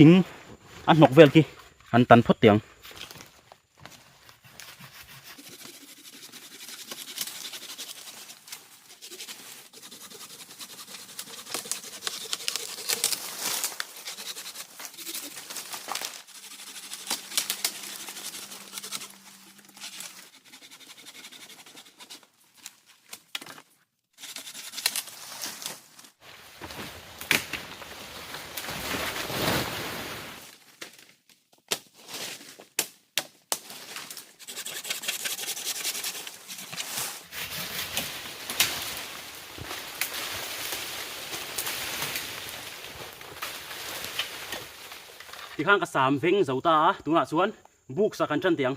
thing a hnawk vel khi an tan phawt teh ang. Tikhan ka sam veng zo ta a tunah chuan Buk sak an tan tih ang.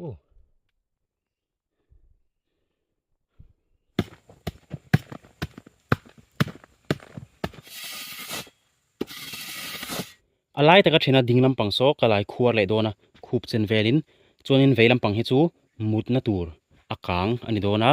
Ooh. a lai taka thina ding lampang saw ka lai khuar leh dawn a khup chen velin chuanin vei lampang hi chu mutna tur a kang a ni dawn a.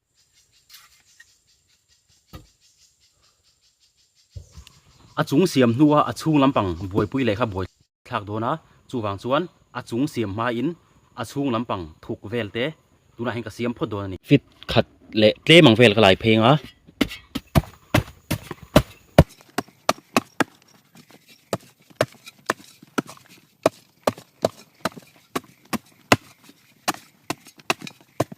A chung siam hnua a chhung lampang buaipui leh kha buai thlak dawn a, chuvang chuan a chung siam hmain a chhung lampang thuk vel te tunah hian ka siam phawt dawn a ni. Fit khat leh tlem ang vel ka lai pheng a.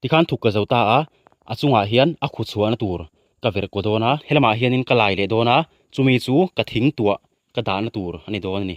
tikhan thuk ka zo ta a a chungah hian a khuchhuahna tur ka verh kaw dawn a helamah hianin ka lai leh dawn a chumi chu ka thing tuah-- Ka dahna tur a ni dawn a ni.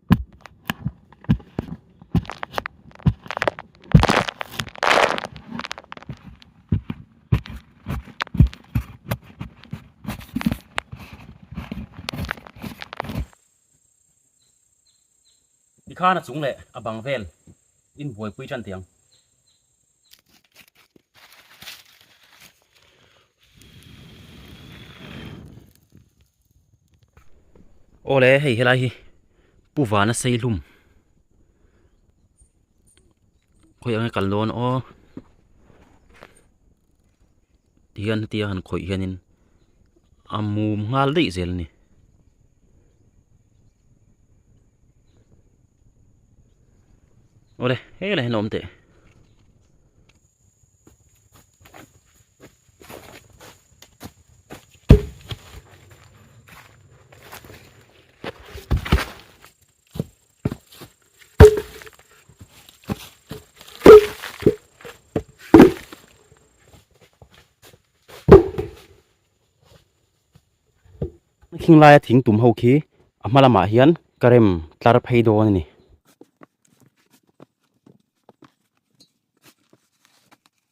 Tikhan a chung leh a bang vel in buaipui ṭan tih ang. Awle hei helai hi pu vana seihlum khawi ang e kal dawn aw. hian hetia han khawih hianin a mum nghal daih zel a ni. Ole, he lah hian a awm teh. Thing laia thing tum ho khi a hma lamah hian ka rem tlar phei dawn a ni.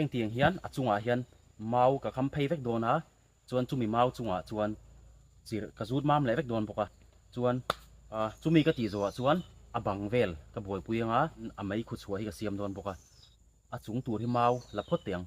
Heng tiang hian a chungah hian mau ka kham phei vek dawn a, chuan chumi mau chungah chuan chirh ka zut mam leh vek dawn bawk a, chuan chumi ka tih zawhah chuan a bang vel ka buaipui anga a mei khu chhuah hi ka siam dawn bawk a, a chung tur hi mau la phawt te ang.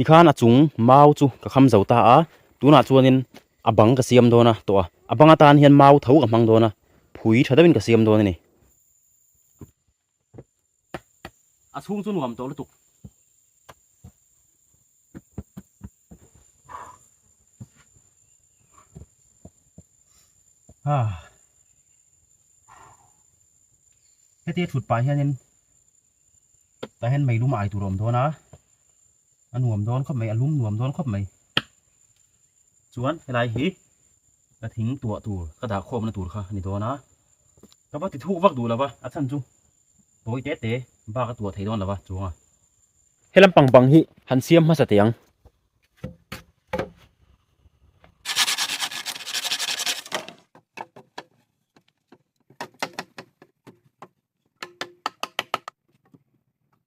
Tikhan a chung mau chu ka kham zo ta a, tunah chuanin a bang ka siam dawn a tawh a, a bang atan hian mau tho ka hmang dawn a, phui tha deuhin ka siam dawn a ni. a chhung chu nuam tawh lutuk. Ha. Heti thut pai hianin ta hen mei lum ai tur awm dawn a. a nuam dawn khawp mai a lum nuam dawn khawp mai chuan helai hi ka thing tuah tur ka dah khawm na tur kha ni dawn a ka va ti thu vak duh lova a chhan chu tawi te te bak a tuah thei dawn lova chuang a helam pang bang hi han siam hmasa te ang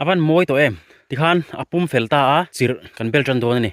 a van mawi tawh em tikhan a pum fel ta a chirh kan bel tan dawn a ni.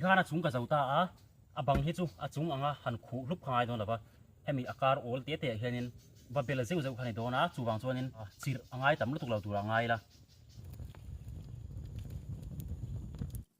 ti khana chung ka zo ta a a bang hi chu a chung anga han khuh hlup kha ngai dawn lova hemi a kar awl teh teh ah hianin va bela zeuh zeuh kha ni dawn a chuvang chuanin chirh a ngai tam lutuk lo tura a ngai la.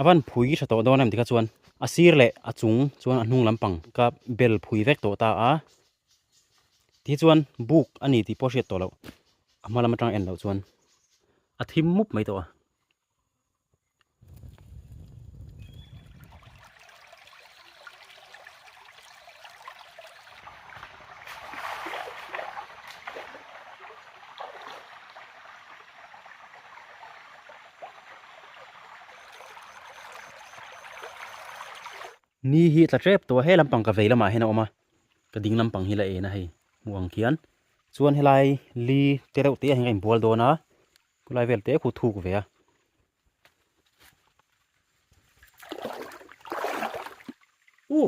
a van phui tha tawh dawn a ni kha chuan a sir leh a chung chuan a hnung lampang kha bel phui vek tawh ta a. Tih hi chuan buk a ni tih pawh a hriat tawh loh. A hma lam atang en loh chuan a thim mup mai tawh a. Ni hi a tla tep tawh a, he lampang ka vei lamah hian a awm a. ka ding lampang hi la en a hei hmuh ang khian chuan helai li te reuh te hian ka inbual dawn a khulai vel te khu thuk ve a u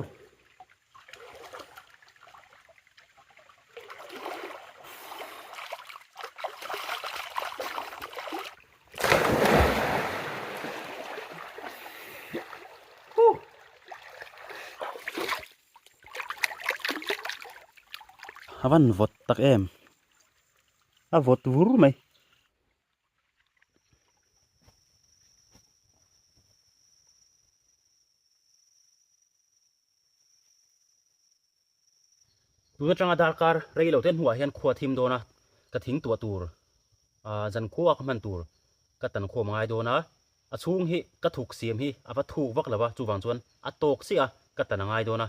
A van vawt tak em a vawt vur mai tun atanga darkar rei lo te hnuah hian khuaa thim dawn a ka thing tuah tur ahh zan khua ka hman tur ka tan khawm a ngai dawn a. A chhung hi ka thuk siam hi a va thuk vak lova chuvang chuan a tawk chiah a, ka tan a ngai dawn a.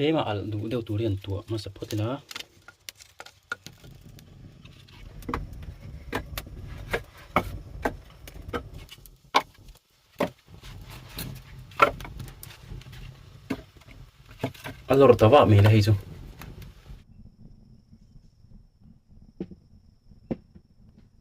tlema alh duh deuh tur hian tuah hmasa phawt ila a lawr ta vah mai la hei chu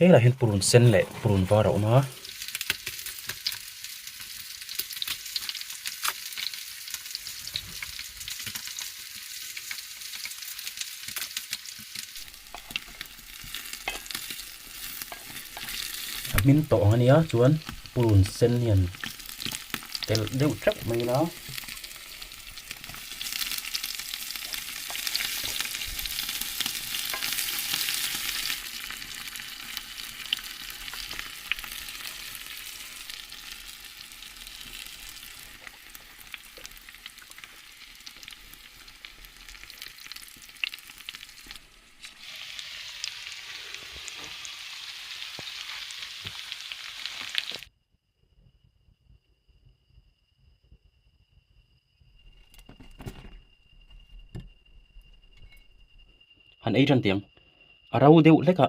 He lah hian purun sen leh purun var a awm a. a hming tawh ang ania chuan purun sen hian tel deuh thlek mai ila han ei tan tih ang a ro deuh hlek a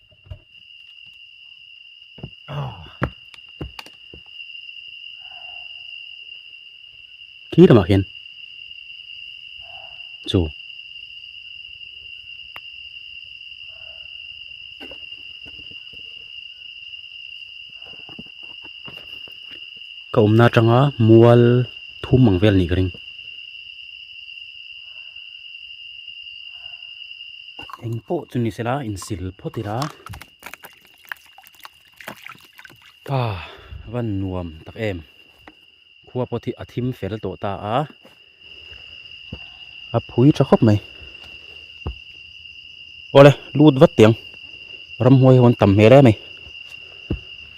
khi lamah khian chu ka awmna atanga mual thum ang vel a nih ka ring. eng pawh chu ni sela in sil phawt ila pa van nuam tak em khua pawh a thim fel tawh ta a a phui tha khawp mai awle lut vat tiang ramhuai ho an tam hmel em.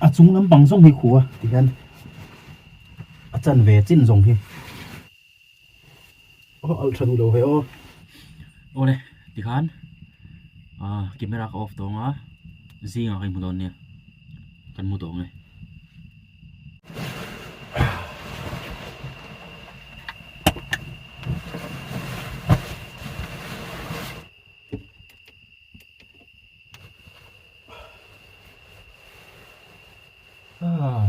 a chung lampang zawng hi khu a ti hian a chanve chin zawng hi. aw alh tha nu lo heh aw awle tikhan ahh camera ka off tawng a zing ah ka inhmu dawn nia kan hmu tawng e ahh.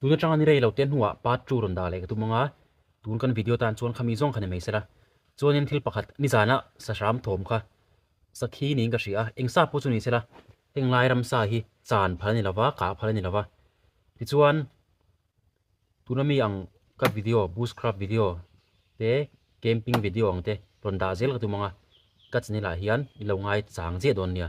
tun atanga ni rei lo te hnuah part two rawn dah leh ka tum anga tun kan video tan chuan khami zawng kha ni mai se la chuanin thil pakhat nizanah sahram thawm kha Sakhi niin ka hria a, eng sa pawh chu ni sela, heng Lairam sa hi chan phal a ni lova, kah phal a ni lova. Tichuan, tuna mi ang ka video, Bushcraft video te, Camping video ang te rawn dah zel ka tum ang a, ka channel ah hian i lo ngai chang chiah dawn nia.